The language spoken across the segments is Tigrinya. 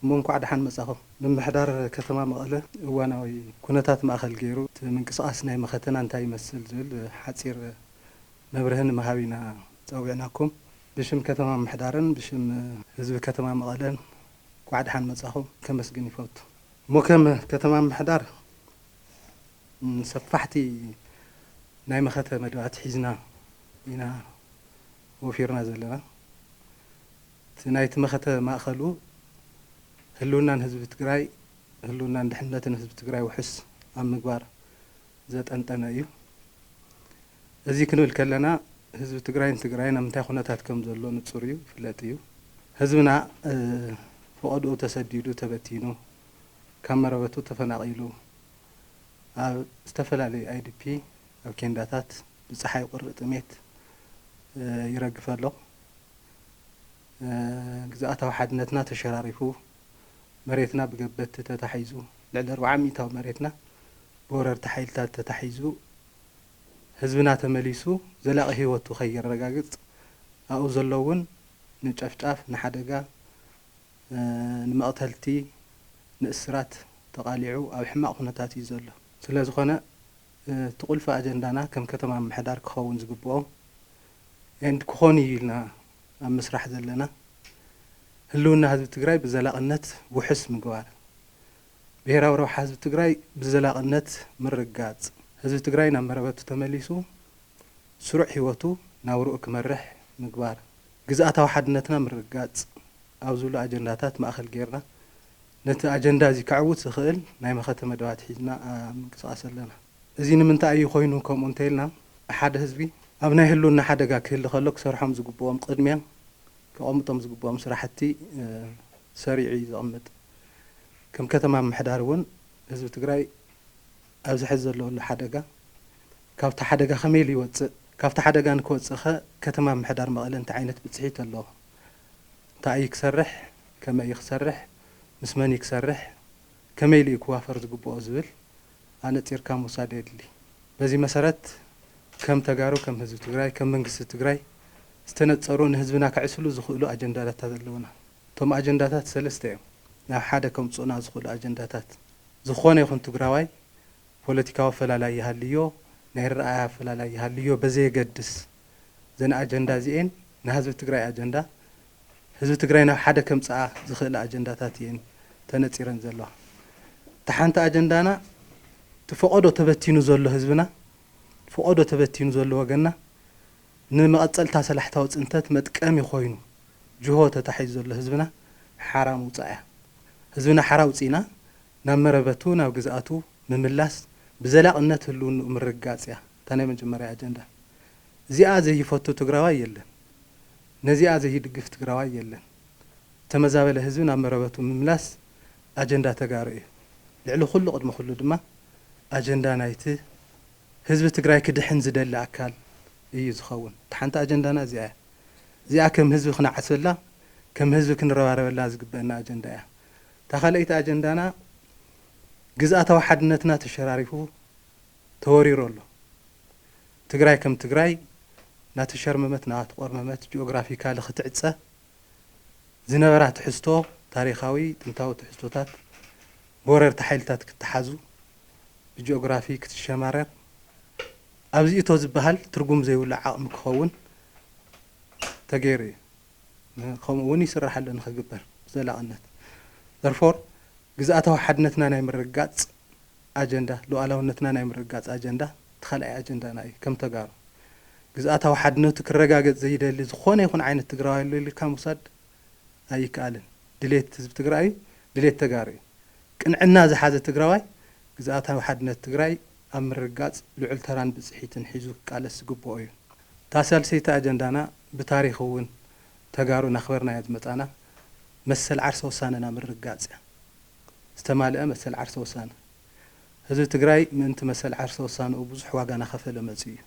እሞ እንኳዕ ደሓን መፃኹም። ምምሕዳር ከተማ መቐለ እዋናዊ ኩነታት ማእኸል ገይሩ እቲ ምንቅስቓስ ናይ መኸተና እንታይ ይመስል ዝብል ሓፂር መብርሂ ንምሃብ ኢና ፀዊዕናኩም። ብሽም ከተማ ምምሕዳርን ብሽም ህዝቢ ከተማ መቐለን እንኳዕ ደሓን መፃኹም ከመስግን ይፈቱ። እሞ ከም ከተማ ምምሕዳር ሰፋሕቲ ናይ መኸተ መደባት ሒዝና ኢና ወፊርና ዘለና። እቲ ናይቲ መኸተ ማእኸሉ ህልውናን ህዝቢ ትግራይ፣ ህልውናን ድሕንነትን ህዝቢ ትግራይ ውሑስ ኣብ ምግባር ዘጠንጠነ እዩ። እዚ ክንብል ከለና ህዝቢ ትግራይን ትግራይን ኣብ ምንታይ ኩነታት ከም ዘሎ ንጹር እዩ፣ ይፍለጥ እዩ። ህዝብና ፈቐድኡ ተሰዲዱ፣ ተበቲኑ፣ ካብ መረበቱ ተፈናቒሉ፣ ኣብ ዝተፈላለዩ IDP፣ ኣብ ኬንዳታት፣ ብጸሓይ ቁሪ ጥሜት ይረግፍ ኣሎ። ግዝኣታዊ ሓድነትና ተሸራሪፉ፣ መሬትና ብገበትቲ ተታሒዙ፣ ልዕሊ ኣርብዓ ሚእታዊ መሬትና ብወረርቲ ሓይልታት ተታሒዙ ህዝብና ተመሊሱ ዘላቂ ሂወቱ ከየረጋግፅ ኣብኡ ዘሎ እውን ንጨፍጫፍ ንሓደጋ ንመቅተልቲ ንእስራት ተቃሊዑ ኣብ ሕማቅ ኩነታት እዩ ዘሎ። ስለዝኾነ እቲ ቁልፊ ኣጀንዳና ከም ከተማ ምምሕዳር ክኸውን ዝግብኦ and ክኾን እዩ ኢልና ኣብ ምስራሕ ዘለና ህልውና ህዝቢ ትግራይ ብዘላቅነት ውሕስ ምግባር ብሄራዊ ረብሓ ህዝቢ ትግራይ ብዘላቕነት ምርግጋፅ፣ ህዝቢ ትግራይ ናብ መረበቱ ተመሊሱ ስሩዕ ህይወቱ ናብርኡ ክመርሕ ምግባር፣ ግዝኣታዊ ሓድነትና ምርግጋፅ ኣብ ዝብሉ ኣጀንዳታት ማእኸል ገይርና ነቲ ኣጀንዳ እዚ ከዕውት ዝኽእል ናይ መኸተ መደባት ሒዝና ኣብ ምንቅስቓስ ኣለና። እዚ ንምንታይ እዩ ኮይኑ ከምኡ እንተይልና ሓደ ህዝቢ ኣብ ናይ ህልውና ሓደጋ ክህሊ ከሎ ክሰርሖም ዝግብኦም ቕድሚያ ከቐምጦም ዝግብኦም ስራሕቲ ሰሪዑ እዩ ዘቕምጥ። ከም ከተማ ምምሕዳር እውን ህዝቢ ትግራይ ኣብዚ ሐዚ ዘለወሉ ሓደጋ ካብቲ ሓደጋ ከመይ ኢሉ ይወፅእ፣ ካብቲ ሓደጋ ንክወፅእ ከ ከተማ ምምሕዳር መቐለ እንታይ ዓይነት ብፅሒት ኣለዎ፣ እንታይ እዩ ክሰርሕ፣ ከመይ እዩ ክሰርሕ፣ ምስ መን እዩ ክሰርሕ፣ ከመይ ኢሉ እዩ ክዋፈር ዝግበኦ ዝብል ኣነፂርካ ምውሳድ የድሊ። በዚ መሰረት ከም ተጋሩ፣ ከም ህዝቢ ትግራይ፣ ከም መንግስቲ ትግራይ ዝተነፀሩ ንህዝብና ከዕስሉ ዝኽእሉ ኣጀንዳዳታ ዘለውና። እቶም ኣጀንዳታት ሰለስተ እዮም። ናብ ሓደ ከምፅኡና ዝኽእሉ ኣጀንዳታት ዝኾነ ይኹን ትግራዋይ ፖለቲካዊ ኣፈላላይ ይሃልዮ፣ ናይ ኣረኣእያ ኣፈላላይ ይሃልዮ በዘየገድስ እዘን ኣጀንዳ እዚኤን ናህዝቢ ትግራይ ኣጀንዳ ህዝቢ ትግራይ ናብ ሓደ ከምፅኣ ዝኽእላ ኣጀንዳታት እየን ተነፂረን ዘለዋ። እታ ሓንቲ ኣጀንዳና እቲ ፈቐዶ ተበቲኑ ዘሎ ህዝብና ፈቐዶ ተበቲኑ ዘሎ ወገንና ንመቐፀልታ ሰላሕታዊ ፅንተት መጥቀሚ ኮይኑ፣ ጅሆ ተታሒዙ ዘሎ ህዝብና ሓራ ምውጻእ እያ። ህዝብና ሓራ ኣውጺእና ናብ መረበቱ ናብ ግዝኣቱ ምምላስ ብዘላቕነት ህልውንኡ ምርግጋጽ እያ እታ ናይ መጀመርያ ኣጀንዳ። እዚኣ ዘይፈቱ ትግራዋይ የለን። ነዚኣ ዘይድግፍ ትግራዋይ የለን። ዝተመዛበለ ህዝቢ ናብ መረበቱ ምምላስ ኣጀንዳ ተጋሩ እዩ። ልዕሊ ኩሉ ቅድሚ ኩሉ ድማ ኣጀንዳ ናይቲ ህዝቢ ትግራይ ክድሕን ዝደሊ ኣካል እዩ ዝኸውን። እታ ሓንቲ ኣጀንዳና እዚኣ እያ። እዚኣ ከም ህዝቢ ክንዓስበላ፣ ከም ህዝቢ ክንረባረበላ ዝግበእና ኣጀንዳ እያ። እታ ካልኣይቲ ኣጀንዳና ግዝኣታዊ ሓድነትና ተሸራሪፉ ተወሪሩ ኣሎ። ትግራይ ከም ትግራይ እናተሸርመመት እናተቖርመመት ጂኦግራፊካሊ ክትዕፀ ዝነበራ ትሕዝቶ ታሪኻዊ ጥንታዊ ትሕዝቶታት ብወረርቲ ሓይልታት ክተሓዙ ብጂኦግራፊ ክትሸማረር ኣብዚ እቶ ዝበሃል ትርጉም ዘይብሉ ዓቕሚ ክኸውን ተገይሩ እዩ፣ ከምኡ እውን ይስራሕ ኣሎ ንክግበር ብዘላቕነት። Therefore፣ ግዝኣታዊ ሓድነትና ናይ ምርግጋፅ ኣጀንዳ፣ ሉኣላውነትና ናይ ምርግጋፅ ኣጀንዳ እቲ ካልኣይ ኣጀንዳና እዩ፣ ከም ተጋሩ። ግዝኣታዊ ሓድነቱ ክረጋገፅ ዘይደሊ ዝኾነ ይኹን ዓይነት ትግራዋይ ኣሎ ኢልካ ምውሳድ ኣይከኣልን። ድሌት ህዝቢ ትግራይ እዩ፣ ድሌት ተጋሩ እዩ። ቅንዕና ዝሓዘ ትግራዋይ ግዝኣታዊ ሓድነት ትግራይ ኣብ ምርግጋጽ ልዑል ተራን ብጽሒትን ሒዙ ክቃለስ ዝግብኦ እዩ። እታ ሳልሰይቲ ኣጀንዳና ብታሪኽ እውን ተጋሩ እናኽበርናያ ዝመጻና መሰል ዓርሰ ውሳነና ምርግጋጽ እያ። ዝተማልኣ መሰል ዓርሰ ውሳነ። ህዝቢ ትግራይ ምእንቲ መሰል ዓርሰ ውሳነኡ ብዙሕ ዋጋ እናኸፈለ መጺኡ እዩ።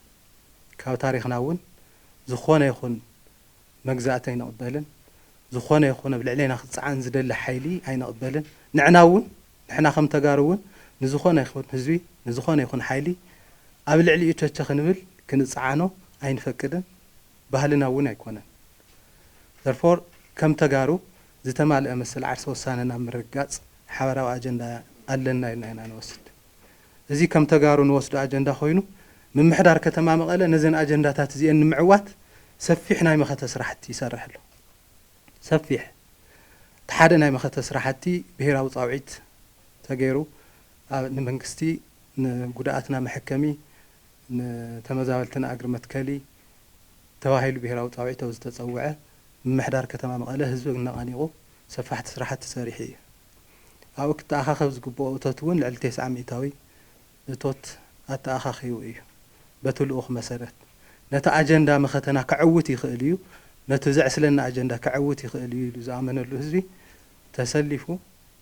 ካብ ታሪኽና እውን ዝኾነ ይኹን መግዛእቲ ኣይንቕበልን፣ ዝኾነ ይኹን ኣብ ልዕሌና ክጸዓን ዝደሊ ሓይሊ ኣይንቕበልን፣ ንዕና እውን። ንሕና ከም ተጋሩ እውን ንዝኾነ ይኹን ህዝቢ ንዝኾነ ይኹን ሓይሊ ኣብ ልዕሊኡ ቸቸ ክንብል ክንፀዓኖ ኣይንፈቅድን ባህልና እውን ኣይኮነን Therefore ከም ተጋሩ ዝተማለኣ መሰል ዓርሰ ውሳነ ናብ ምርግጋፅ ሓበራዊ ኣጀንዳ ኣለና ኢልና ኢና ንወስድ እዚ ከም ተጋሩ ንወስዶ ኣጀንዳ ኮይኑ ምምሕዳር ከተማ መቐለ ነዘን ኣጀንዳታት እዚኤን ንምዕዋት ሰፊሕ ናይ መኸተ ስራሕቲ ይሰርሕ ኣሎ። ሰፊሕ እቲ ሓደ ናይ መኸተ ስራሕቲ ብሄራዊ ፃውዒት ተገይሩ ኣብ ንመንግስቲ ንጉዳኣትና መሐከሚ ንተመዛበልትና እግሪ መትከሊ ተባሂሉ ብሄራዊ ፃውዒት ኣብ ዝተፀውዐ ምምሕዳር ከተማ መቐለ ህዝቢ ኣነቓኒቑ ሰፋሕቲ ስራሕቲ ሰሪሑ እዩ። ኣብኡ ክተኣኻኸብ ዝግብኦ እቶት እውን ልዕሊ ቴስዓ ሚኢታዊ እቶት ኣተኣኻኺቡ እዩ። በቲ ልኡኽ መሰረት ነቲ ኣጀንዳ መኸተና ከዕውት ይኽእል እዩ፣ ነቲ ዘዕስለኒ ኣጀንዳ ከዕውት ይኽእል እዩ ኢሉ ዝኣመነሉ ህዝቢ ተሰሊፉ፣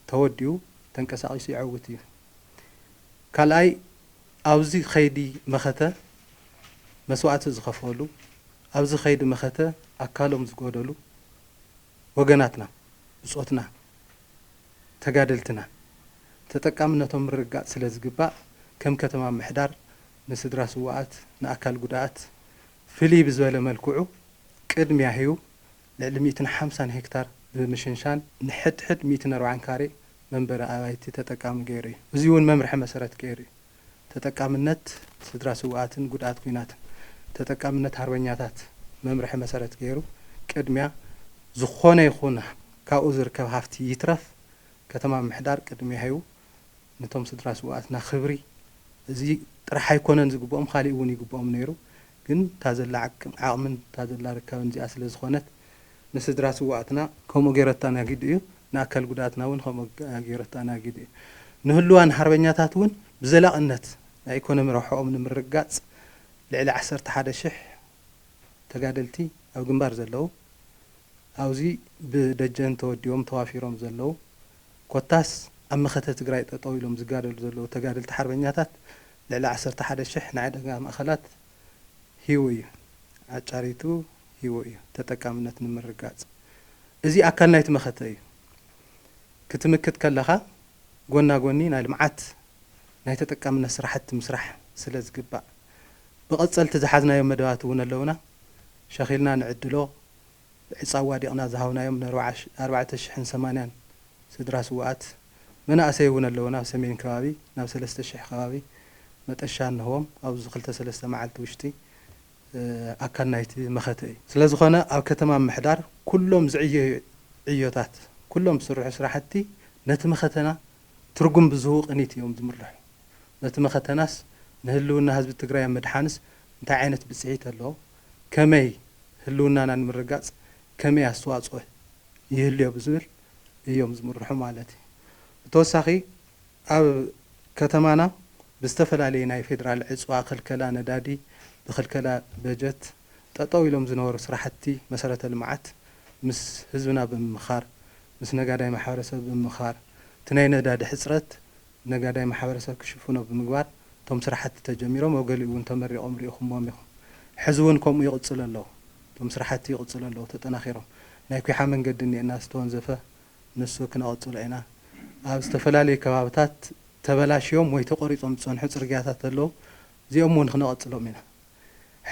ተወዲቡ፣ ተንቀሳቒሱ የዕውት እዩ። ካልኣይ ኣብዚ ከይዲ መኸተ መስዋእቲ ዝኸፈሉ፣ ኣብዚ ከይዲ መኸተ ኣካሎም ዝጎደሉ፣ ወገናትና፣ ብጾትና፣ ተጋደልትና ተጠቃምነቶም ምርግጋጽ ስለ ዝግባእ ከም ከተማ ምሕዳር ንስድራ ስዉኣት፣ ንኣካል ጉዳኣት ፍልይ ብዝበለ መልክዑ ቅድሚያ ሂቡ ልዕሊ ሚእትን ሓምሳን ሄክታር ብምሽንሻን ንሕድሕድ ሚእትን ኣርባዓን ካሬ መንበሪ ኣባይቲ ተጠቃሚ ገይሩ እዩ። እዚ'ውን መምርሒ መሰረት ገይሩ እዩ። ተጠቃምነት ስድራ ስውኣትን ጉድኣት ኲናትን ተጠቃምነት ሃርበኛታት መምርሒ መሰረት ገይሩ ቅድሚያ ዝኾነ ይኹን ካብኡ ዝርከብ ሃፍቲ ይትረፍ ከተማ ምሕዳር ቅድሚያ ሂቡ ንቶም ስድራ ስውኣትና ክብሪ እዚ ጥራሕ ኣይኮነን ዝግብኦም ካሊእ እውን ይግብኦም ነይሩ ግን እታ ዘላ ዓቕምን እታ ዘላ ርካብን እዚኣ ስለዝኾነት ንስድራ ስውኣትና ከምኡ ገይረታ ናጊዱ እዩ ንኣካል ጉዳኣትና እውን ከምኡ ገይሩ ኣተኣናጊዱ እዩ። ንህሉዋን ሓርበኛታት እውን ብዘላቕነት ናይ ኢኮኖሚ ረብሕኦም ንምርግጋፅ ልዕሊ ዓሰርተ ሓደ ሽሕ ተጋደልቲ ኣብ ግንባር ዘለዉ፣ ኣብዚ ብደጀን ተወዲቦም ተዋፊሮም ዘለዉ ኮታስ ኣብ መኸተ ትግራይ ጠጠው ኢሎም ዝጋደሉ ዘለዉ ተጋደልቲ ሓርበኛታት ልዕሊ ዓሰርተ ሓደ ሽሕ ንዕደጋ ማእኸላት ሂቡ እዩ። ኣጫሪቱ ሂቡ እዩ። ተጠቃምነት ንምርግጋፅ። እዚ ኣካል ናይቲ መኸተ እዩ። ክትምክት ከለኻ ጎና ጎኒ ናይ ልምዓት ናይ ተጠቃምነት ስራሕቲ ምስራሕ ስለዝግባእ። ብቐፀልቲ ዝሓዝናዮም መደባት እውን ኣለውና። ሸኺልና ንዕድሎ። ብዕፃ ኣዋዲቕና ዝሃብናዮም ን ኣርባዕተ ሽሕን ሰማንያን ስድራ ስውኣት መናእሰይ እውን ኣለዉ ናብ ሰሜን ከባቢ ናብ ሰለስተ ሽሕ ከባቢ መጠሻ እንህቦም ኣብዚ ክልተ ሰለስተ መዓልቲ ውሽጢ ኣካል ናይቲ መኸተ እዩ። ስለዝኾነ ኣብ ከተማ ምሕዳር ኩሎም ዝዕየዩ ዕዮታት ኩሎም ዝስርሑ ስራሕቲ ነቲ መኸተና ትርጉም ብዝህቡ ቅኒት እዮም ዝምርሑ። ነቲ መኸተናስ ንህልውና ህዝቢ ትግራይ ኣብ ምድሓንስ እንታይ ዓይነት ብፅሒት ኣለዎ ከመይ ህልውናና ንምርግጋፅ ከመይ ኣስተዋፅኦ ይህልዮ ብዝብል እዮም ዝምርሑ ማለት እዩ። ብተወሳኺ ኣብ ከተማና ብዝተፈላለየ ናይ ፌዴራል ዕፅዋ፣ ክልከላ ነዳዲ፣ ብክልከላ በጀት ጠጠው ኢሎም ዝነበሩ ስራሕቲ መሰረተ ልምዓት ምስ ህዝብና ብምምኻር፣ ምስ ነጋዳይ ማሕበረሰብ ብምምኻር እቲ ናይ ነዳዲ ሕፅረት ነጋዳይ ማሕበረሰብ ክሽፍኖ ብምግባር እቶም ስራሕቲ ተጀሚሮም ኣብ ገሊኡ እውን ተመሪቖም ሪኢኹምዎም ኢኹም። ሕዚ እውን ከምኡ ይቕፅሉ ኣለው። እቶም ስራሕቲ ይቕፅሉ ኣለው ተጠናኺሮም። ናይ ኲሓ መንገዲ እኒኤና ዝተወንዘፈ ንሱ ክነቐፅሎ ኢና። ኣብ ዝተፈላለዩ ከባብታት ተበላሽዮም ወይ ተቖሪፆም ዝፀንሑ ፅርግያታት ኣለው። እዚኦም እውን ክነቐፅሎም ኢና።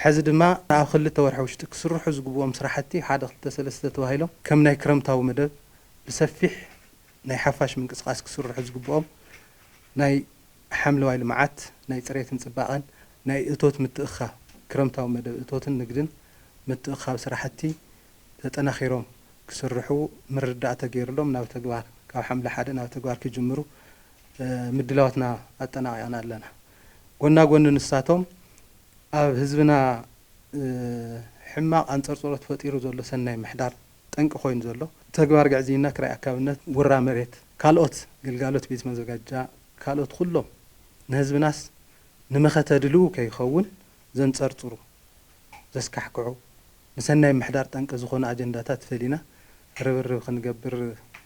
ሕዚ ድማ ኣብ ክልተ ወርሒ ውሽጢ ክስርሑ ዝግብኦም ስራሕቲ ሓደ ክልተ ሰለስተ ተባሂሎም ከም ናይ ክረምታዊ መደብ ብሰፊሕ ናይ ሓፋሽ ምንቅስቓስ ክስርሑ ዝግብኦም ናይ ሓምለዋይ ልምዓት፣ ናይ ፅሬትን ፅባቐን፣ ናይ እቶት ምትእኽኻብ፣ ክረምታዊ መደብ እቶትን ንግድን ምትእኽኻብ ስራሕቲ ተጠናኺሮም ክስርሑ ምርድዳእ ተገይሩሎም ናብ ተግባር ካብ ሓምለ ሓደ ናብ ተግባር ክጅምሩ ምድላዋትና ኣጠናቒቕና ኣለና። ጎና ጎኒ ንሳቶም ኣብ ህዝብና ሕማቕ ኣንፀርፅሮት ፈጢሩ ዘሎ ሰናይ ምሕዳር፣ ጠንቂ ኮይኑ ዘሎ ተግባር ግዕዝይና ክራይ ኣካብነት ውራ መሬት ካልኦት ግልጋሎት ቤት መዘጋጃ ካልኦት ኹሎም ንህዝብናስ ንመኸተ ድልው ከይኸውን ዘንፀርፅሩ ዘስካሕክሑ ንሰናይ ምሕዳር ጠንቂ ዝኾኑ ኣጀንዳታት ፈሊና ርብርብ ኽንገብር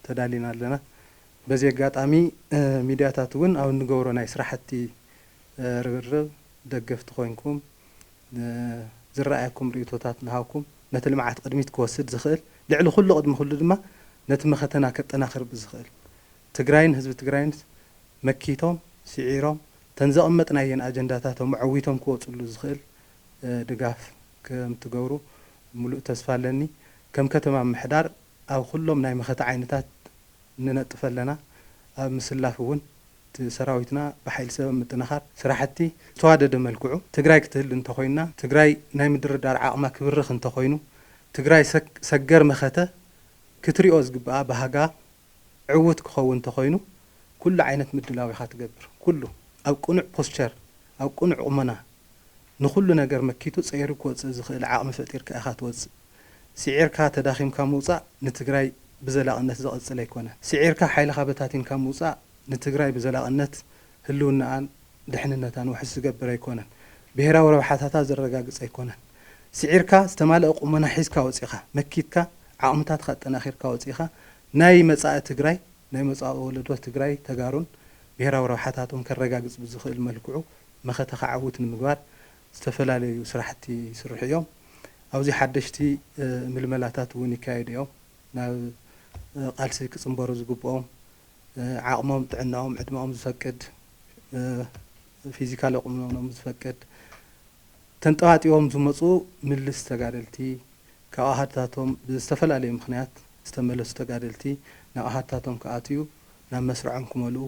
ተዳሊና ኣለና በዚ ኣጋጣሚ ሚድያታት እውን ኣብ እንገብሮ ናይ ስራሕቲ ርብርብ ደገፍቲ ኾይንኩም ንዝረኣየኩም ርእይቶታት እናሃብኩም ነቲ ልምዓት ቕድሚት ክወስድ ዝኽእል ልዕሊ ኹሉ ቕድሚ ኹሉ ድማ ነቲ መኸተና ከጠናኽር ብዝኽእል ትግራይን ህዝቢ ትግራይን መኪቶም ሲዒሮም እተን ዘቐመጥናየን ኣጀንዳታቶም ኣዐዊቶም ክወፅሉ ዝኽእል ድጋፍ ከምትገብሩ ሙሉእ ተስፋ ኣለኒ ከም ከተማ ምምሕዳር ኣብ ኹሎም ናይ መኸተ ዓይነታት ንነጥፍ ኣለና፣ ኣብ ምስላፍ እውን እቲ ሰራዊትና ብሓይሊ ሰብ ኣብ ምጥንኻር ስራሕቲ ብዝተዋደደ መልክዑ ትግራይ ክትህሉ እንተኾይና ትግራይ ናይ ምድርዳር ዓቕማ ክብርኽ እንተኾይኑ ትግራይ ሰገር መኸተ ክትሪኦ ዝግብኣ ባህጋ ዕውት ክኸውን እንተኾይኑ ኩሉ ዓይነት ምድላው ኢኻ ትገብር ኩሉ ኣብ ቅኑዕ ፖስቸር ኣብ ቅኑዕ ቁመና ንኹሉ ነገር መኪቱ ፀይሩ ክወፅእ ዝኽእል ዓቕሚ ፈጢርካ ኢኻ ትወፅእ። ሲዒርካ ተዳኺምካ ምውጻእ ንትግራይ ብዘላቕነት ዘቐጽል ኣይኮነን። ሲዒርካ ሓይልኻ በታቲንካ ምውጻእ ንትግራይ ብዘላቕነት ህልውናኣን ድሕንነታን ውሕስ ዝገብር ኣይኮነን። ብሄራዊ ረብሓታታ ዘረጋግጽ ኣይኮነን። ሲዒርካ ዝተማለኣ ቁመና ሒዝካ ወጺእኻ መኪትካ ዓቕምታትኻ ኣጠናኺርካ ወጺእኻ ናይ መጻኢ ትግራይ ናይ መጻኢ ወለዶ ትግራይ ተጋሩን ብሄራዊ ረብሓታቶም ከረጋግጽ ብዝኽእል መልክዑ መኸተ ክዓውት ንምግባር ዝተፈላለዩ ስራሕቲ ይስርሑ እዮም። ኣብዚ ሓደሽቲ ምልመላታት እውን ይካየዱ እዮም። ናብ ቃልሲ ክፅምበሩ ዝግብኦም ዓቕሞም፣ ጥዕናኦም፣ ዕድመኦም ዝፈቅድ፣ ፊዚካሊ ቁመኖም ዝፈቅድ፣ ተንጠባጢቦም ዝመፁ ምልስ ተጋደልቲ፣ ካብ ኣሃዱታቶም ብዝተፈላለየ ምኽንያት ዝተመለሱ ተጋደልቲ ናብ ኣሃዱታቶም ክኣትዩ፣ ናብ መስርዖም ክመልኡ፣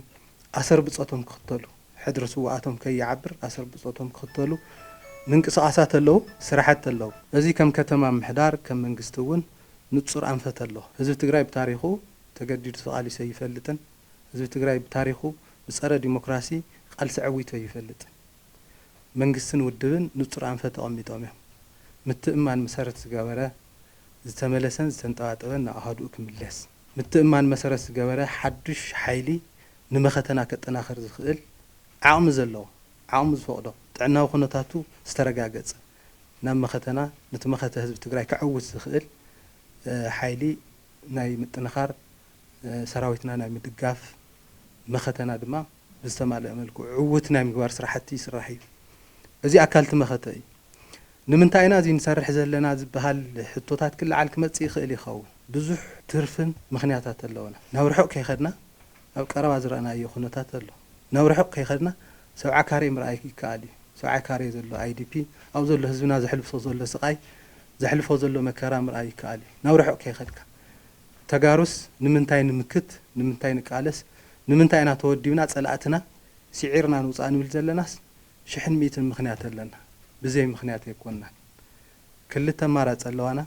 ኣሰር ብፆቶም ክኽተሉ። ሕድሪ ስውኣቶም ከይዓብር ኣሰር ብጾቶም ክኽተሉ ምንቅስቓሳት ኣለዉ፣ ስራሕቲ ኣለዉ። እዚ ከም ከተማ ምሕዳር ከም መንግስቲ እውን ንጹር ኣንፈት ኣሎ። ህዝቢ ትግራይ ብታሪኹ ተገዲዱ ተቓሊሱ ኣይፈልጥን። ህዝቢ ትግራይ ብታሪኹ ብጸረ ዲሞክራሲ ቓልሲ ዐዊቱ ኣይፈልጥን። መንግስትን ውድብን ንጹር ኣንፈት ኣቐሚጦም እዮም። ምትእምማን መሰረት ዝገበረ፣ ዝተመለሰን ዝተንጠባጠበን ናብ ኣሃዱኡ ክምለስ። ምትእምማን መሰረት ዝገበረ ሓዱሽ ሓይሊ ንመኸተና ከጠናኽር ዝኽእል ዓቕሚ ዘለዎ፣ ዓቕሙ ዝፈቕዶ፣ ጥዕናዊ ኩነታቱ ዝተረጋገፀ ናብ መኸተና ንቲ መኸተ ህዝቢ ትግራይ ከዕውት ዝኽእል ሓይሊ ናይ ምጥንኻር፣ ሰራዊትና ናይ ምድጋፍ፣ መኸተና ድማ። ብዝተማልኣ መልክዑ ዕውት ናይ ምግባር ስራሕቲ ይስራሕ እዩ። እዚ ኣካል እቲ መኸተ እዩ። ንምንታይ ኢና እዚ ንሰርሕ ዘለና ዝበሃል ሕቶታት ክለዓል ክመፅእ ይኽእል ይኸውን። ብዙሕ ትርፍን ምኽንያታት ኣለወና። ናብ ርሑቕ ከይኸድና ኣብ ቀረባ ዝረኣናዮ ኩነታት ኣሎ። ናብ ርሑቕ ከይኸድና ሰብዓ ካሬ ምርኣይ ይከኣል እዩ። ሰብዓ ካሬ ዘሎ IDP ኣብኡ ዘሎ ህዝብና ዘሕልፍሶ ዘሎ ስቓይ፣ ዘሕልፎ ዘሎ መከራ ምርኣይ ይከኣል እዩ። ናብ ርሑቕ ከይኸድካ። ተጋሩስ ንምንታይ ንምክት ንምንታይ ንቃለስ ንምንታይ ኢና ተወዲብና ፀላእትና ሲዒርና ንውፃእ ንብል ዘለናስ ሽሕን ሚእትን ምክንያት ኣለና ብዘይ ምክንያት ኣይኮናን ክልተ ኣማራፂ ኣለዋና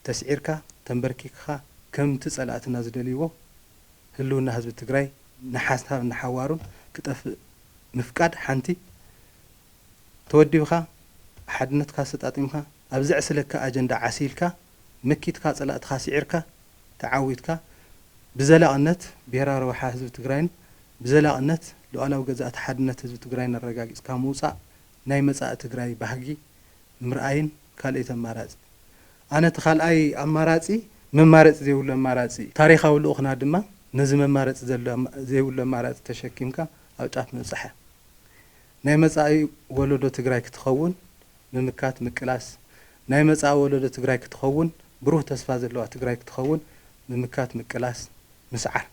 ተስዒርካ ተምበርኪክካ ከምቲ ፀላእትና ዝደልይዎ ህልውና ህዝቢ ትግራይ ንሓሳብ ንሓዋሩን ክጠፍእ ምፍቃድ ሓንቲ ተወዲብካ ሓድነትካ ኣሰጣጢምካ ኣብ ዘዕስለካ ኣጀንዳ ዓሲልካ መኪትካ ፀላእትኻ ስዒርካ ተዓዊትካ ብዘላቕነት ብሄራዊ ረብሓ ህዝቢ ትግራይን ብዘላቕነት ሉኣላዊ ገዛእቲ ሓድነት ህዝቢ ትግራይን ኣረጋጊፅካ ምውፃእ ናይ መፃኢ ትግራይ ባህጊ ምርኣይን ካልእይቲ ኣማራፂ ኣነ እቲ ካልኣይ ኣማራፂ መማረፂ ዘይብሉ ኣማራፂ እዩ ታሪኻዊ ልኡኽና ድማ ነዚ መማረፂ ዘይብሉ ኣማራፂ ተሸኪምካ ኣብ ጫፍ ምብፃሕ እዩ ናይ መጻኢ ወለዶ ትግራይ ክትኸውን ምምካት ምቅላስ ናይ መጻኢ ወለዶ ትግራይ ክትኸውን ብሩህ ተስፋ ዘለዋ ትግራይ ክትኸውን ምምካት ምቅላስ ምስዓር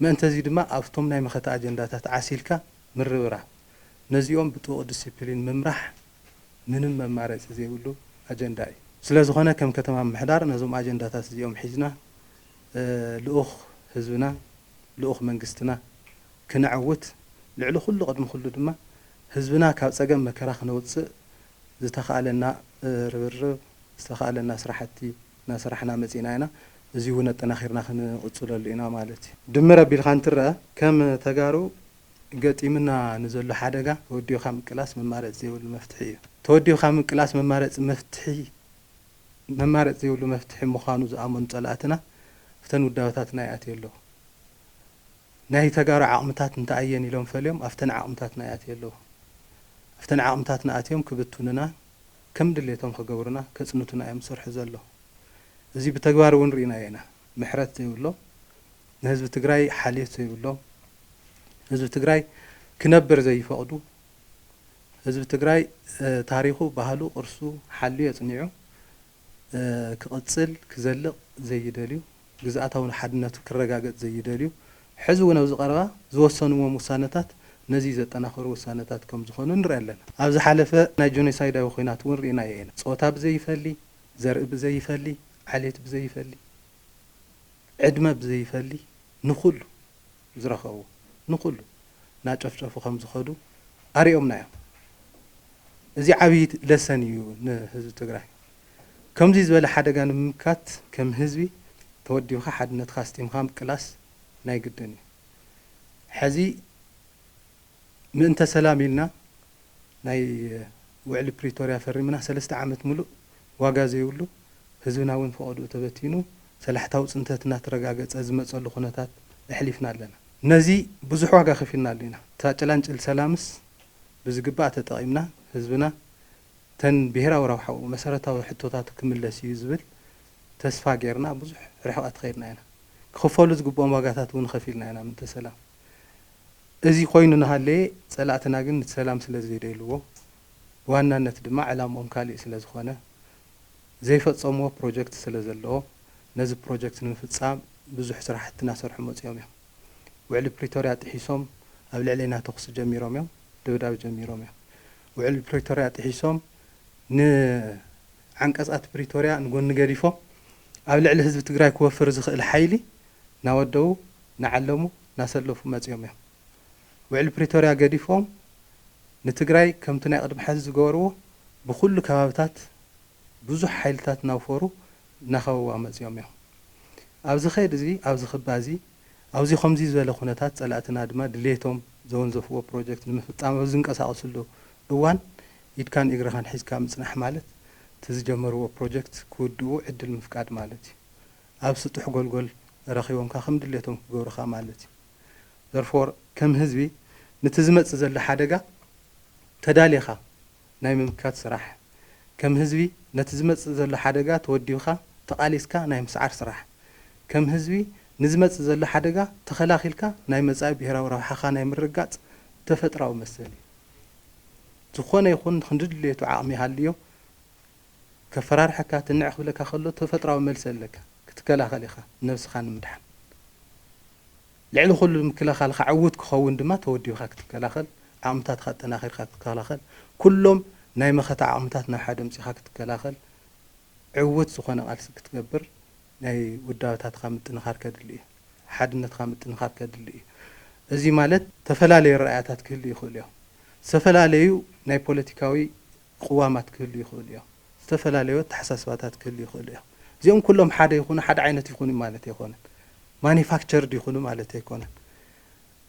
መእንተ እዚ ድማ ኣብቶም ናይ መኸተ ኣጀንዳታት ዓሲልካ ምርብራብ ነዚኦም ብጥቡቕ ድስፕሊን ምምራሕ ምንም መማረፂ ዘይብሉ ኣጀንዳ እዩ። ስለዝኾነ ከም ከተማ ምምሕዳር ነዞም ኣጀንዳታት እዚኦም ሒዝና ልኡኽ ህዝብና ልኡኽ መንግስትና ክነዕውት ልዕሊ ኩሉ ቅድሚ ኩሉ ድማ ህዝብና ካብ ፀገም መከራ ክነውፅእ ዝተኽኣለና ርብርብ ዝተኽኣለና ስራሕቲ እናሰራሕና መፂእና ኢና እዙይ እውን ኣጠናኺርና ክንቕፅለሉ ኢና ማለት እዩ። ድምር ኣቢልካ እንትረኣ ከም ተጋሩ ገጢሙና ንዘሎ ሓደጋ ተወዲብካ ምቅላስ መማረፂ ዘይብሉ መፍትሒ እዩ። ተወዲብካ ምቅላስ መማረፂ መፍትሒ መማረፂ ዘይብሉ መፍትሒ ምዃኑ ዝኣመኑ ፀላእትና እፍተን ውዳበታትና ይኣትዩ ኣለዉ። ናይ ተጋሩ ዓቕምታት እንታይ'የን ኢሎም ፈልዮም ኣፍተን ዓቕምታትና ይኣትዩ ኣለዉ። ኣፍተን ዓቕምታትና ኣትዮም ክብትኑናን ከም ድሌቶም ክገብሩና ከፅንቱና እዮም ዝሰርሑ ዘለዉ። እዚ ብተግባር እውን ርኢናዮ ኢና። ምሕረት ዘይብሎም ንህዝቢ ትግራይ ሓልዮት ዘይብሎም ህዝቢ ትግራይ ክነብር ዘይፈቕዱ፣ ህዝቢ ትግራይ ታሪኹ፣ ባህሉ፣ ቅርሱ ሓልዩ ኣፅኒዑ ክቕፅል፣ ክዘልቕ ዘይደልዩ፣ ግዝኣታዊ ሓድነቱ ክረጋገፅ ዘይደልዩ ሕዚ እውን ኣብዚ ቀረባ ዝወሰኑዎም ውሳነታት ነዙይ ዘጠናኽሩ ውሳነታት ከምዝኾኑ ንርኢ ኣለና። ኣብ ዝሓለፈ ናይ ጆኖሳይዳዊ ኹናት እውን ርኢናዮ ኢና። ፆታ ብዘይፈሊ፣ ዘርኢ ብዘይፈሊ፣ ዓሌት ብዘይፈሊ፣ ዕድመ ብዘይፈሊ ንኹሉ፣ ዝረኸቡ ንኹሉ ናጨፍጨፉ ከምዝኸዱ ኣሪኦምና እዮም እዚ ዓብይ ለሰን እዩ ንህዝቢ ትግራይ ከምዙይ ዝበለ ሓደጋ ንምምካት ከም ህዝቢ ተወዲብኻ ሓድነትኻ ኣስጢምኻ ምቅላስ ናይ ግድን እዩ ሐዚ ምእንተ ሰላም ኢልና ናይ ውዕሊ ፕሪቶርያ ፈሪምና ሰለስተ ዓመት ምሉእ ዋጋ ዘይብሉ ህዝብና እውን ፈቐድኡ ተበቲኑ ሰላሕታዊ ፅንተት እናተረጋገፀ ዝመፀሉ ኩነታት ኣሕሊፍና ኣለና። ነዚ ብዙሕ ዋጋ ከፊልናሉ ኢና። እታ ጭላንጭል ሰላምስ ብዝግባእ ተጠቒምና ህዝብና ተን ብሄራዊ ረብሓኡ መሰረታዊ ሕቶታቱ ክምለስ እዩ ዝብል ተስፋ ገይርና ብዙሕ ርሕቐት ከይድና ኢና። ክኽፈሉ ዝግብኦም ዋጋታት እውን ኸፊልና ኢና ምእንተ ሰላም። እዚ ኮይኑ ናሃለየ ፀላእትና ግን ንቲ ሰላም ስለዘይደልዎ ብዋናነት ድማ ዕላምኦም ካሊእ ስለዝኾነ ዘይፈፀምዎ ፕሮጀክት ስለዘለዎ ነዚ ፕሮጀክት ንምፍፃም ብዙሕ ስራሕቲ ናሰርሑ መፂኦም እዮም። ውዕሊ ፕሪቶርያ ጥሒሶም ኣብ ልዕሌና ተኹሲ ጀሚሮም እዮም። ደብዳብ ጀሚሮም እዮም። ውዕሊ ፕሪቶርያ ጥሒሶም ን ዓንቀፃት ፕሪቶርያ ንጎኒ ገዲፎም ኣብ ልዕሊ ህዝቢ ትግራይ ክወፍር ዝኽእል ሓይሊ ናወደዉ ናዓለሙ ናሰለፉ መፂኦም እዮም ውዕሊ ፕሪቶርያ ገዲፎም ንትግራይ ከምቲ ናይ ቅድሚ ሐዚ ዝገበርዎ ብኩሉ ከባብታት ብዙሕ ሓይልታት ናውፈሩ ናከበዋ መፂኦም እዮም ኣብዚ ከይዲ እዚ ኣብዚ ክባ እዚ ኣውዚ ከምዙይ ዝበለ ኩነታት ፀላእትና ድማ ድልየቶም ዘወንዘፍዎ ፕሮጀክት ንምፍፃም ኣብ ዝንቀሳቀስሉ እዋን ኢድካን ኢግርኻን ሒዝካ ምፅናሕ ማለት ትዝጀመርዎ ፕሮጀክት ክውድኡ ዕድል ምፍቃድ ማለት እዩ ኣብ ስጡሕ ጎልጎል ረኺቦምካ ከም ድሌቶም ክገብሩኻ ማለት እዩ። Therefore ከም ህዝቢ ንቲ ዝመጽእ ዘሎ ሓደጋ ተዳሊኻ ናይ ምምካት ስራሕ፣ ከም ህዝቢ ነቲ ዝመጽእ ዘሎ ሓደጋ ተወዲብኻ ተቓሊስካ ናይ ምስዓር ስራሕ፣ ከም ህዝቢ ንዝመጽእ ዘሎ ሓደጋ ተኸላኺልካ ናይ መጻኢ ብሄራዊ ረብሓኻ ናይ ምርግጋጽ ተፈጥራዊ መሰል እዩ። ዝኾነ ይኹን ክንዲ ድሌቱ ዓቕሚ ይሃልዮ፣ ከፈራርሓካ ትንዕ ክብለካ ከሎ ተፈጥራዊ መልሲ ኣለካ ክትከላኸል ኢኻ ነብስኻ ንምድሓን ልዕሊ ኩሉ ምክልኻልካ ዕውት ክኸውን ድማ ተወዲብካ ክትከላኸል ዓቕምታትካ ኣጠናኺርካ ክትከላኸል ኩሎም ናይ መኸተ ዓቕምታት ናብ ሓደ ኣምጺኻ ክትከላኸል ዕውት ዝኾነ ቃልሲ ክትገብር ናይ ውዳበታትካ ምጥንኻር ከድሊ እዩ ሓድነትካ ምጥንኻር ከድሊ እዩ እዚ ማለት ተፈላለዩ ኣረኣእያታት ክህልዩ ይኽእሉ እዮም ዝተፈላለዩ ናይ ፖለቲካዊ ቕዋማት ክህልዉ ይኽእሉ እዮም። ዝተፈላለዩ ኣተሓሳስባታት ክህልዉ ይኽእሉ እዮም። እዚኦም ኩሎም ሓደ ይኹኑ ሓደ ዓይነት ይኹኑ ማለት ኣይኮነን። ማኒፋክቸርድ ይኹኑ ማለት ኣይኮነን።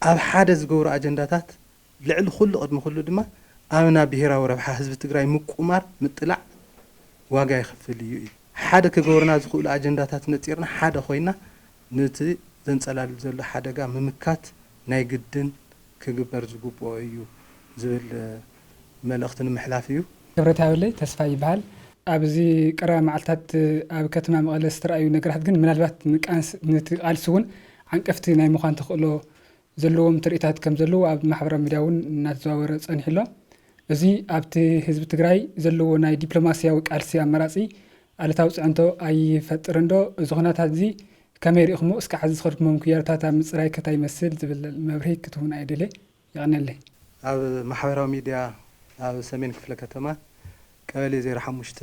ኣብ ሓደ ዝገብሩ ኣጀንዳታት ልዕሊ ኩሉ ቅድሚ ኩሉ ድማ ኣብና ብሄራዊ ረብሓ ህዝቢ ትግራይ ምቁማር ምጥላዕ ዋጋ የኽፍል እዩ ኢሉ። ሓደ ክገብሩና ዝኽእሉ ኣጀንዳታት ነፂርና ሓደ ኮይና ንቲ ዘንፀላልብ ዘሎ ሓደጋ ምምካት ናይ ግድን ክግበር ዝግብኦ እዩ ዝብል መልእኽቲ ንምሕላፍ እዩ። ክብረትያበለይ ተስፋይ ይበሃል። ኣብዚ ቀረባ መዓልታት ኣብ ከተማ መቐለ ዝተራእዩ ነገራት ግን ምናልባት ንቃንስ ንቲ ቃልሲ እውን ዓንቀፍቲ ናይ ምዃን ተኽእሎ ዘለዎም ትርኢታት ከምዘለዉ ኣብ ማሕበራዊ ሚድያ እውን እናተዘዋወረ ፀኒሑ ኣሎ። እዚ ኣብቲ ህዝቢ ትግራይ ዘለዎ ናይ ዲፕሎማሲያዊ ቃልሲ ኣማራፂ ኣሉታዊ ፅዕንቶ ኣይፈጥርንዶ? እዚ ኹነታት እዚ ከመይ ሪእኹምዎ? እስከ ሐዚ ዝኸድኩሞ ምክያዶታት ኣብ ምፅራይ ከ ታይ ይመስል ዝብል መብርሂ ክትሁቡና እየ ደልየ። የቐኔለይ። ኣብ ማሕበራዊ ሚድያ ኣብ ሰሜን ክፍለ ከተማ ቀበሌ ዜሮ ሓሙሽተ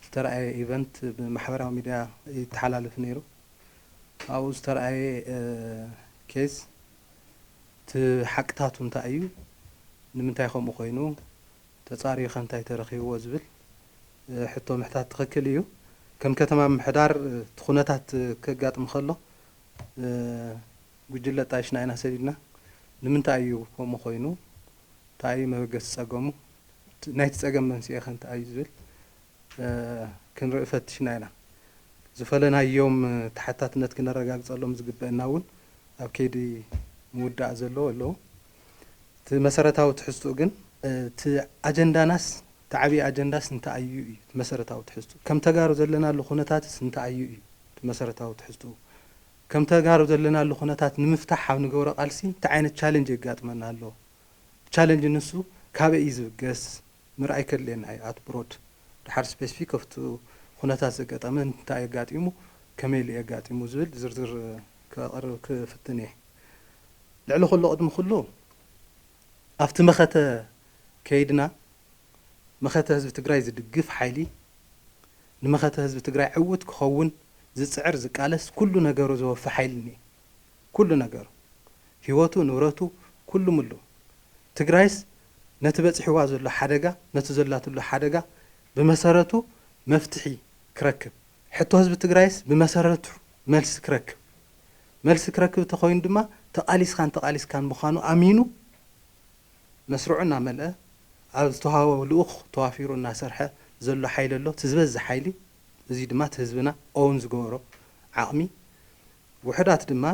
ዝተርኣየ ኢቨንት ብማሕበራዊ ሚድያ ይተሓላለፍ ነይሩ። ኣብኡ ዝተርኣየ ኬዝ እቲ ሓቅታቱ እንታይ እዩ? ንምንታይ ከምኡ ኮይኑ? ተፃርዩ ከ እንታይ ተረኺብዎ? ዝብል ሕቶ ምሕታት ትኽክል እዩ። ከም ከተማ ምምሕዳር እቲ ኩነታት ከጋጥም ከሎ ጉጅለ ጣይሽ ናይና ሰዲድና ንምንታይ እዩ ከምኡ ኮይኑ? ታይ እዩ መበገሲ ፀገሙ? ናይቲ ፀገም መንስኤ ከ እንታይ እዩ ዝብል ክንርኢ ፈቲሽና ኢና። ዝፈለናዮም ተሓታትነት ክነረጋግፀሎም ዝግበእና እውን ኣብ ከይዲ ምውዳእ ዘለዉ ኣለዉ። እቲ መሰረታዊ ትሕዝትኡ ግን። እቲ ኣጀንዳናስ እቲ ዓብዪ ኣጀንዳስ እንታይ እዩ እዩ እቲ መሰረታዊ ትሕዝትኡ። ከም ተጋሩ ዘለናሉ ኩነታትስ እንታይ እዩ እዩ እቲ መሰረታዊ ትሕዝትኡ። ከም ተጋሩ ዘለናሉ ኩነታት ንምፍታሕ ኣብ ንገብሮ ቃልሲ እንታይ ዓይነት ቻለንጅ የጋጥመና ኣሎ? እቲ ቻለንጅ ንሱ ካበይ እዩ ዝብገስ? ምርኣይ ከድልየና እዩ ኣት ብሮድ ደሓር ስፔስፊክ ኦፍቲ ኩነታት ዘገጠመ እንታይ ኣጋጢሙ ከመይ ኢሉ እዩ ኣጋጢሙ ዝብል ዝርዝር ከቕርብ ክፍትን እየ። ልዕሊ ኩሉ ቅድሚ ኩሉ ኣብቲ መኸተ ከይድና መኸተ ህዝቢ ትግራይ ዝድግፍ ሓይሊ ንመኸተ ህዝቢ ትግራይ ዕውት ክኸውን ዝፅዕር ዝቃለስ ኩሉ ነገሩ ዘወፊ ሓይሊ እኒኤ ኩሉ ነገሩ ሂወቱ ንብረቱ ኩሉ ምሉ ትግራይስ ነቲ በፂሕዋ ዘሎ ሓደጋ ነቲ ዘላትሉ ሓደጋ ብመሰረቱ መፍትሒ ክረክብ ሕቶ ህዝቢ ትግራይስ ብመሰረቱ መልሲ ክረክብ መልሲ ክረክብ እተኾይኑ ድማ ተቓሊስኻን ተቓሊስካን ምዃኑ ኣሚኑ መስርዑ እናመልኣ ኣብ ዝተውሃቦ ልኡኽ ተዋፊሩ እናሰርሐ ዘሎ ሓይሊ ኣሎ። እቲ ዝበዝሕ ሓይሊ እዙይ ድማ እቲ ህዝብና ኦውን ዝገበሮ ዓቕሚ ውሑዳት ድማ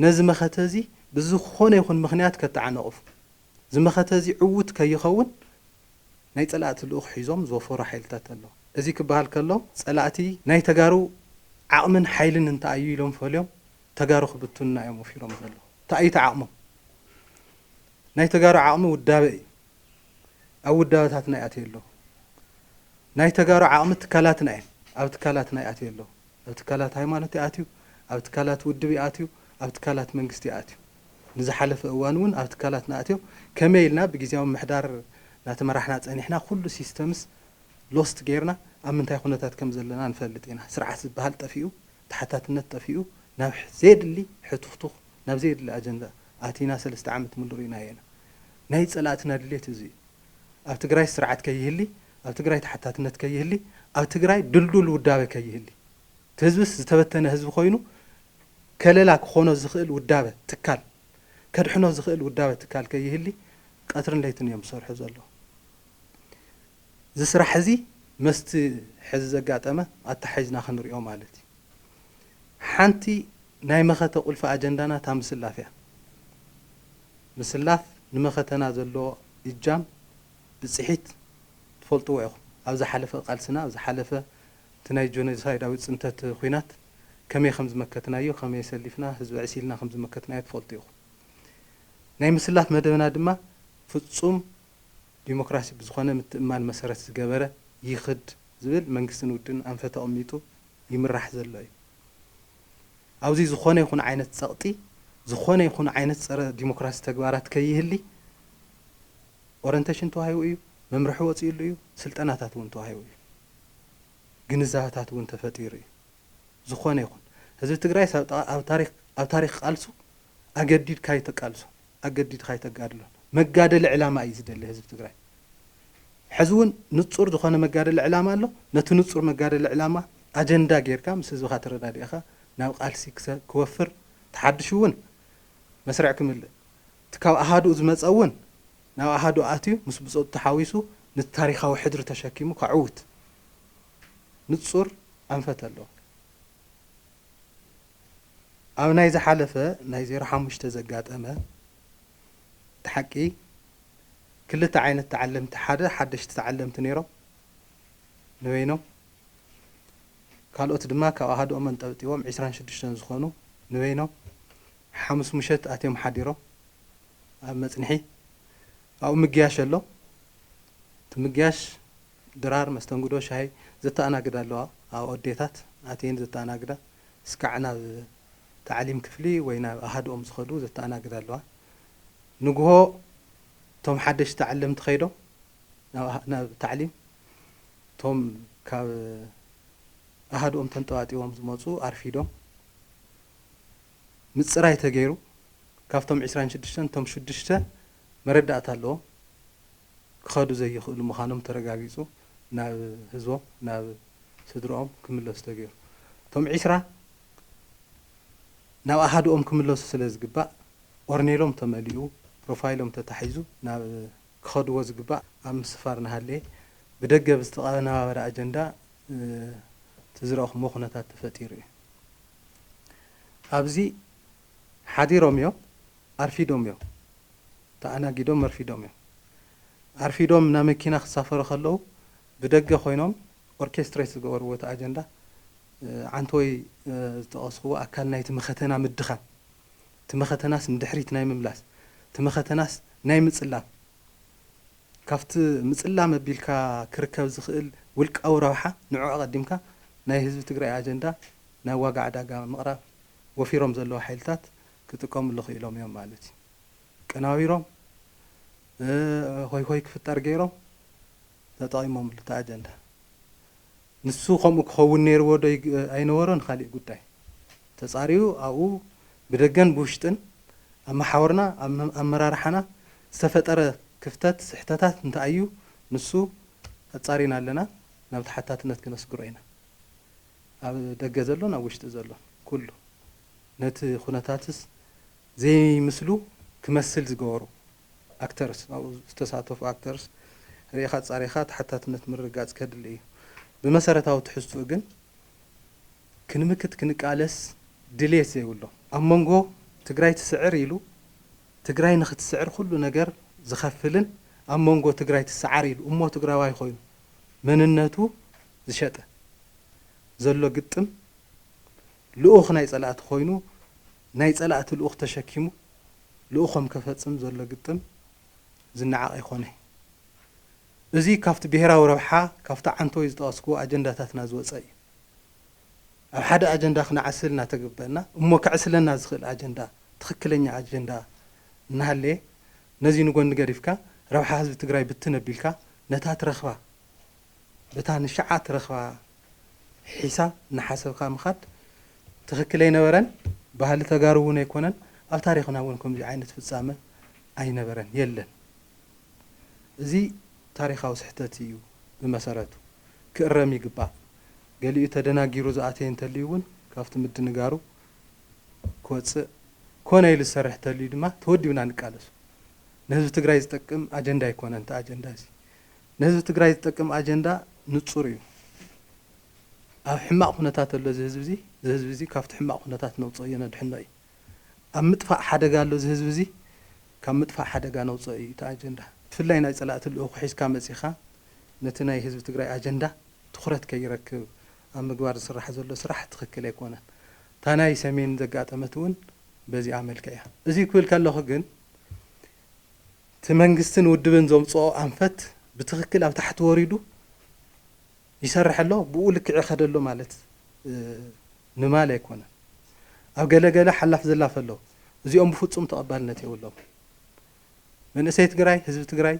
ነዚ መኸተ እዙይ ብዝኾነ ይኹን ምኽንያት ከተዓናቕፉ እዚ መኸተ እዚ ዕዉት ከይኸውን ናይ ፀላእቲ ልኡኽ ሒዞም ዝወፈሩ ሓይልታት ኣለዉ። እዚ ክበሃል ከሎ ፀላእቲ ናይ ተጋሩ ዓቕምን ሓይልን እንታይ እዩ ኢሎም ፈልዮም ተጋሩ ክብትኑና እዮም ወፊሮም ዘለዉ። እንታይ እዩ እቲ ዓቕሞም? ናይ ተጋሩ ዓቕሚ ውዳበ እዩ። ኣብ ውዳበታትና ይኣትዩ ኣለዉ። ናይ ተጋሩ ዓቕሚ ትካላትና እየን። ኣብ ትካላትና ይኣትዩ ኣለዉ። ኣብ ትካላት ሃይማኖት ይኣትዩ፣ ኣብ ትካላት ውድብ ይኣትዩ፣ ኣብ ትካላት መንግስቲ ይኣትዩ። ንዝሓለፈ እዋን እውን ኣብ ትካላትና ኣትዮም ከመይ ኢልና ብጊዚያዊ ምምሕዳር እናተመራሕና ፀኒሕና ኩሉ ሲስተምስ ሎስት ገይርና ኣብ ምንታይ ኩነታት ከምዘለና ንፈልጥ ኢና። ስርዓት ዝበሃል ጠፊኡ፣ ተሓታትነት ጠፊኡ ናብ ዘየድሊ ሕቱኽቱኽ ናብ ዘየድሊ ኣጀንዳ ኣቲና ሰለስተ ዓመት ሙሉእ ሪእናዮ ኢና። ናይ ፀላእትና ድሌት እዚ እዩ። ኣብ ትግራይ ስርዓት ከይህሊ፣ ኣብ ትግራይ ተሓታትነት ከይህሊ፣ ኣብ ትግራይ ድልዱል ውዳበ ከይህሊ፣ እቲ ህዝብስ ዝተበተነ ህዝቢ ኮይኑ ከለላ ክኾኖ ዝኽእል ውዳበ ትካል፣ ከድሕኖ ዝኽእል ውዳበ ትካል ከይህሊ ቀትርን ለይትን እዮም ዝሰርሑ ዘለዉ። እዚ ስራሕ እዚ መስቲ ሕዚ ዘጋጠመ ኣተሓሒዝና ክንሪኦ ማለት እዩ። ሓንቲ ናይ መኸተ ቁልፊ ኣጀንዳና እታ ምስላፍ እያ። ምስላፍ ንመኸተና ዘለዎ እጃም ብጽሒት ትፈልጥዎ ኢኹም። ኣብ ዝሓለፈ ቃልስና፣ ኣብ ዝሓለፈ እቲ ናይ ጆኖሳይዳዊ ጽንተት ኹናት ከመይ ከም ዝመከትናዮ፣ ከመይ ሰሊፍና ህዝቢ ዕሲልና ከም ዝመከትናዮ ትፈልጡ ኢኹም። ናይ ምስላፍ መደብና ድማ ፍጹም ዲሞክራሲ ብዝኾነ ምትእምማን መሰረት ዝገበረ ይኽድ ዝብል መንግስትን ውድብን ኣንፈት ኣቕሚጡ ይምራሕ ዘሎ እዩ። ኣብዚ ዝኾነ ይኹን ዓይነት ጸቕጢ፣ ዝኾነ ይኹን ዓይነት ጸረ ዲሞክራሲ ተግባራት ከይህሊ ኦረንተሽን ተዋሂቡ እዩ፣ መምርሒ ወጺኡሉ እዩ፣ ስልጠናታት እውን ተዋሂቡ እዩ። ግንዛበታት እውን ተፈጢሩ እዩ። ዝኾነ ይኹን ህዝቢ ትግራይስ ኣብ ታሪኽ ቃልሱ ኣገዲድካዩ ተቃልሶ። ኣገዲድካ ኣይተጋድሎን መጋደሊ ዕላማ እዩ ዝደሊ ህዝቢ ትግራይ ሐዚ እውን ንፁር ዝኾነ መጋደሊ ዕላማ ኣሎ ነቲ ንፁር መጋደሊ ዕላማ ኣጀንዳ ጌርካ ምስ ህዝብኻ ተረዳዲእኻ ናብ ቃልሲ ክወፍር ተሓድሹ እውን መስርዕ ክምልእ እቲ ካብ ኣሃዱኡ ዝመፀ እውን ናብ ኣሃዱኡ ኣትዩ ምስ ብፆቱ ተሓዊሱ ነቲ ታሪኻዊ ሕድሪ ተሸኪሙ ከዕውት ንፁር ኣንፈት ኣለዎ። ኣብ ናይ ዝሓለፈ ናይ ዜሮ ሓሙሽተ ዘጋጠመ እቲ ሓቂ ክልተ ዓይነት ተዓለምቲ ሓደ ሓደሽቲ ተዓለምቲ ነይሮም ንበይኖም ካልኦት ድማ ካብ ኣሃድኦም ኣንጠብጢቦም ዕስራን ሽዱሽተን ዝኾኑ ንበይኖም ሓሙስ ምሸት ኣትዮም ሓዲሮም ኣብ መጽንሒ ኣብኡ ምግያሽ ኣሎ እቲ ምግያሽ ድራር መስተንግዶ ሻሂ ዘተኣናግዳ ኣለዋ ኣብኡ ኣዴታት ኣትየን ዘተኣናግዳ ስካዕ ናብ ታዕሊም ክፍሊ ወይ ናብ ኣሃዱኦም ዝኸዱ ዘተኣናግዳ ኣለዋ። ንጉሆ እቶም ሓደሽቲ ተዓለምቲ ከይዶም ናብ ታዕሊም እቶም ካብ ኣሃዱኦም ተንጠባጢቦም ዝመጹ ኣርፊዶም ምጽራይ ተገይሩ ካብቶም ዕስራን ሽዱሽተን እቶም ሽዱሽተ መረዳእታ ኣለዎም። ክኸዱ ዘይኽእሉ ምዃኖም ተረጋጊጹ ናብ ህዝቦም ናብ ስድርኦም ክምለሱ ተገይሩ። እቶም ዒስራ ናብ ኣሃዱኦም ክምለሱ ስለ ዝግባእ ኦርኔሎም ተመሊኡ ፕሮፋይሎም ተታሒዙ ናብ ክኸድዎ ዝግባእ ኣብ ምስፋር እናሃለየ ብደገ ብዝተቐነባበረ ኣጀንዳ እቲ ዝረእኹምዎ ኩነታት ተፈጢሩ እዩ። ኣብዚ ሓዲሮምዮ ኣርፊዶምዮ ተኣናጊዶም ኣርፊዶምዮ ኣርፊዶም ናብ መኪና ክሳፈሩ ከለዉ ብደገ ኮይኖም ኦርኬስትሬት ዝገበርዎ እቲ ኣጀንዳ ዓንተወይ ዝጠቐስኽዎ ኣካል ናይቲ መኸተና ምድኻም እቲ መኸተናስ ንድሕሪት ናይ ምምላስ እቲ መኸተናስ ናይ ምጽላም ካብቲ ምጽላም ኣቢልካ ክርከብ ዝኽእል ውልቃዊ ረብሓ ንዑ ኣቐዲምካ ናይ ህዝቢ ትግራይ ኣጀንዳ ናብ ዋጋ ዕዳጋ ምቕራብ ወፊሮም ዘለዉ ሓይልታት ክጥቀምሉ ክኢሎም እዮም ማለት እዩ። ቀናቢሮም፣ ሆይሆይ ክፍጠር ገይሮም፣ ተጠቒሞምሉ እቲ ኣጀንዳ። ንሱ ከምኡ ክኸውን ነይርዎ ዶ ኣይነበሮን ኻሊእ ጉዳይ። ተፃርዩ ኣብኡ ብደገን ብውሽጥን ኣብ መሓውርና ኣብ ኣመራርሓና ዝተፈጠረ ክፍተት ስሕተታት እንተኣዩ ንሱ ኣፃሪና ኣለና ናብ ተሓታትነት ክነስግሮ ኢና። ኣብ ደገ ዘሎን ኣብ ውሽጢ ዘሎን ኩሉ፣ ነቲ ኩነታትስ ዘይምስሉ ክመስል ዝገበሩ ኣክተርስ፣ ኣብኡ ዝተሳተፉ ኣክተርስ፣ ርኢኻ ኣጻሪኻ ተሓታትነት ምርግጋጽ ከድሊ እዩ። ብመሰረታዊ ትሕዝትኡ ግን ክንምክት ክንቃለስ ድልየት ዘይብሎም፣ ኣብ መንጎ ትግራይ ትስዕር ኢሉ ትግራይ ንኽትስዕር ኩሉ ነገር ዝኸፍልን ኣብ መንጎ ትግራይ ትሰዓር ኢሉ እሞ ትግራዋይ ኮይኑ፣ መንነቱ ዝሸጠ ዘሎ ግጥም ልኡኽ ናይ ፀላእቲ ኮይኑ ናይ ፀላእቲ ልኡኽ ተሸኪሙ ልኡኾም ከፈፅም ዘሎ ግጥም ዝነዓቕ ኣይኮነይ። እዙይ ካብቲ ብሄራዊ ረብሓ ካብቲ ዓንተወይ ዝጠቐስክዎ ኣጀንዳታትና ዝወፀ እዩ። ኣብ ሓደ ኣጀንዳ ክነዓስል እናተገበእና እሞ ከዕስለና ዝኽእል ኣጀንዳ ትኽክለኛ ኣጀንዳ እናሃለየ ነዚ ንጎኒ ገዲፍካ ረብሓ ህዝቢ ትግራይ ብትን ኣቢልካ ነታ ትረኽባ በታ ንሸዓ ትረኽባ ሒሳብ እናሓሰብካ ምኻድ ትኽክል ኣይነበረን ባህሊ ተጋሩ እውን ኣይኮነን ኣብ ታሪኽና እውን ከምዚ ዓይነት ፍፃመ ኣይነበረን የለን እዚ ታሪኻዊ ስሕተት እዩ ብመሰረቱ ክእረም ይግባእ ገሊኡ ተደናጊሩ ዝኣተየ እንተልዩ እውን ካብቲ ምድንጋሩ ክወፅእ ኮነ ኢሉ ዝሰርሕ ተልዩ ድማ ተወዲብና ንቃለሶ። ንህዝቢ ትግራይ ዝጠቅም ኣጀንዳ ኣይኮነን እቲ ኣጀንዳ እዚ። ንህዝቢ ትግራይ ዝጠቅም ኣጀንዳ ንፁር እዩ። ኣብ ሕማቕ ኩነታት ኣሎ እዚ ህዝቢ እዚ፣ እዚ ህዝቢ እዚ ካብቲ ሕማቕ ኩነታት ነውፀእዮ ነድሕኖ እዩ። ኣብ ምጥፋእ ሓደጋ ኣሎ እዚ ህዝቢ እዚ፣ ካብ ምጥፋእ ሓደጋ ነውፀኦ እዩ እቲ ኣጀንዳ። ብፍላይ ናይ ፀላእቲ ልኡኽ ሒዝካ መፂእኻ ነቲ ናይ ህዝቢ ትግራይ ኣጀንዳ ትኹረት ከይረክብ ኣብ ምግባር ዝስራሕ ዘሎ ስራሕ ትኽክል ኣይኮነን። እታ ናይ ሰሜን ዘጋጠመት'ውን በዚኣ መልክዕ እያ። እዚ ክብል ከለኹ ግን እቲ መንግስትን ውድብን ዘምጽኦ ኣንፈት ብትኽክል ኣብ ታሕቲ ወሪዱ ይሰርሕ ኣሎ፣ ብኡ ልክዕ ይኸድ ኣሎ ማለት ንማል ኣይኮነን። ኣብ ገለ ገለ ሓላፍ ዘላፍ ኣሎ፣ እዚኦም ብፍጹም ተቐባልነት የብሎምን። መንእሰይ ትግራይ፣ ህዝቢ ትግራይ፣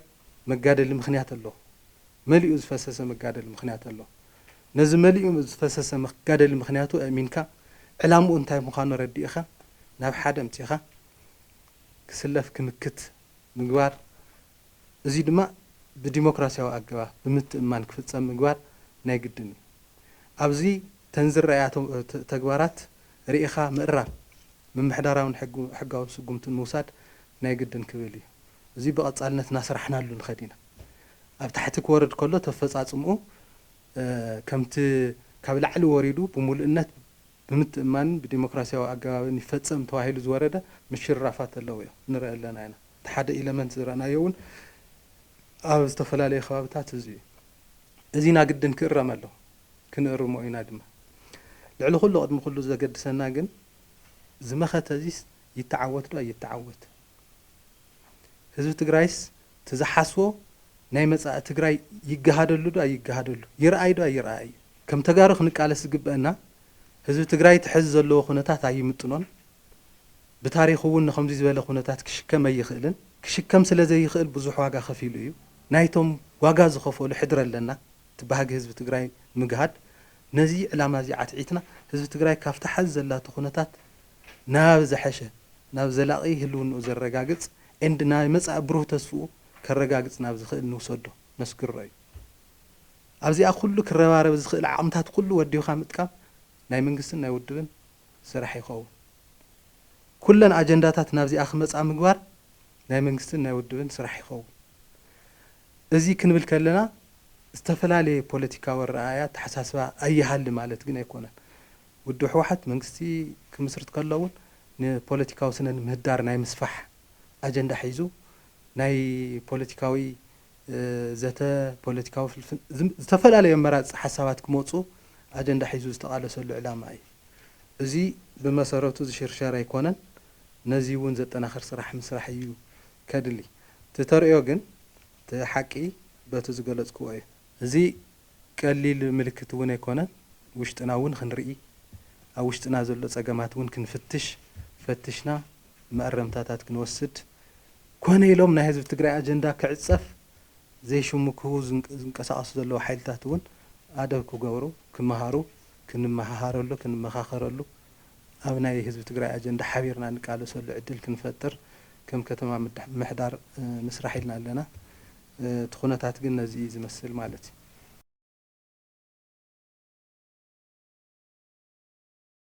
መጋደሊ ምክንያት ኣሎ መሊኡ ዝፈሰሰ መጋደሊ ምክንያት ኣሎ ነዚ መሊኡ ዝፈሰሰ መጋደሊ ምክንያቱ ኣእሚንካ ዕላምኡ እንታይ ምካኑ ኣረዲእካ ናብ ሓደ ኣምጺካ ክስለፍ ክምክት ምግባር እዙይ ድማ ብዲሞክራሲያዊ ኣገባብ ብምትእምማን ክፍጸም ምግባር ናይ ግድን እዩ ኣብዚ ተን ዝረኣያ ተግባራት ሪኢካ ምእራም ምምሕዳራዊን ሕጋውን ስጉምትን ምውሳድ ናይ ግድን ክብል እዩ። እዚ ብቐጻልነት እናሰራሕናሉ ንኸድ ኢና። ኣብ ታሕቲ ክወርድ ከሎ እቲ ኣፈጻጽምኡ ከምቲ ካብ ላዕሊ ወሪዱ ብምሉእነት ብምትእምማንን ብዲሞክራሲያዊ ኣገባብን ይፈጸም ተባሂሉ ዝወረደ ምሽርራፋት ኣለዎዮ። ንርኢ ኣለና ኢና። እቲ ሓደ ኢለመንት ዝረእናዮ እውን ኣብ ዝተፈላለዩ ከባብታት እዚ እዩ። እዚ ናግድን ክእረም ኣለዎ። ክንእርሞ ኢና ድማ። ልዕሊ ኩሉ ቅድሚ ኩሉ ዘገድሰና ግን እዚ መኸተ እዚስ ይተዓወት ዶ ኣይተዓወት ህዝቢ ትግራይስ እቲ ዝሓስቦ ናይ መፃኢ ትግራይ ይገሃደሉ ዶ ኣይገሃደሉ ይርኣይ ዶ ኣይርኣይ እዩ። ከም ተጋሩ ክንቃለስ ዝግበእና ህዝቢ ትግራይ እቲ ሐዚ ዘለዎ ኩነታት ኣይምጥኖን ብታሪኹ እውን ንኸምዙይ ዝበለ ኩነታት ክሽከም ኣይኽእልን ክሽከም ስለ ዘይኽእል ብዙሕ ዋጋ ከፊሉ እዩ ናይቶም ዋጋ ዝኸፈሉ ሕድሪ ኣለና እቲ ባህጊ ህዝቢ ትግራይ ንምግሃድ ነዚ ዕላማ እዚ ዓትዒትና ህዝቢ ትግራይ ካብታ ሐዚ ዘላቶ ኩነታት ናብ ዘሐሸ ናብ ዘላቒ ህልውንኡ ዘረጋግፅ and ናይ መፃኢ ብሩህ ተስፍኡ ከረጋግፅ ናብ ዝኽእል ንውሰዶ ነስግሮ እዩ። ኣብዚኣ ኩሉ ክረባረብ ዝኽእል ዓቕምታት ኩሉ ወዲብኻ ምጥቃም ናይ መንግስትን ናይ ውድብን ስራሕ ይኸውን። ኩለን ኣጀንዳታት ናብዚኣ ክመፃ ምግባር ናይ መንግስትን ናይ ውድብን ስራሕ ይኸውን። እዚ ክንብል ከለና ዝተፈላለየ ፖለቲካዊ ኣረኣእያ ኣተሓሳስባ ኣይሃሊ ማለት ግን ኣይኮነን። ውድብ ህወሓት መንግስቲ ክምስርት ከሎ እውን ንፖለቲካዊ ስነ ምህዳር ናይ ምስፋሕ ኣጀንዳ ሒዙ ናይ ፖለቲካዊ ዘተ፣ ፖለቲካዊ ፍልፍል፣ ዝተፈላለዩ ኣመራፅቲ ሓሳባት ክመፁ ኣጀንዳ ሒዙ ዝተቓለሰሉ ዕላማ እዩ። እዚ ብመሰረቱ ዝሽርሸር ኣይኮነን። ነዚ እውን ዘጠናኽር ስራሕ ምስራሕ እዩ ከድሊ እቲ ተርእዮ ግን እቲ ሓቂ በቲ ዝገለጽክዎ እዩ። እዚ ቀሊል ምልክት እውን ኣይኮነን፣ ውሽጥና እውን ክንርኢ፣ ኣብ ውሽጥና ዘሎ ጸገማት እውን ክንፍትሽ፣ ፈትሽና መእረምታታት ክንወስድ፣ ኮነ ኢሎም ናይ ህዝቢ ትግራይ ኣጀንዳ ክዕጸፍ ዘይሽሙ ክህቡ ዝንቀሳቐሱ ዘለዉ ሓይልታት እውን ኣደብ ክገብሩ፣ ክመሃሩ፣ ክንመሃሃረሉ፣ ክንመኻኸረሉ፣ ኣብ ናይ ህዝቢ ትግራይ ኣጀንዳ ሓቢርና ንቃለሰሉ ዕድል ክንፈጥር ከም ከተማ ምሕዳር ንስራሕ ኢልና ኣለና። እቲ ኩነታት ግን ነዚ እዩ ዝመስል ማለት እዩ።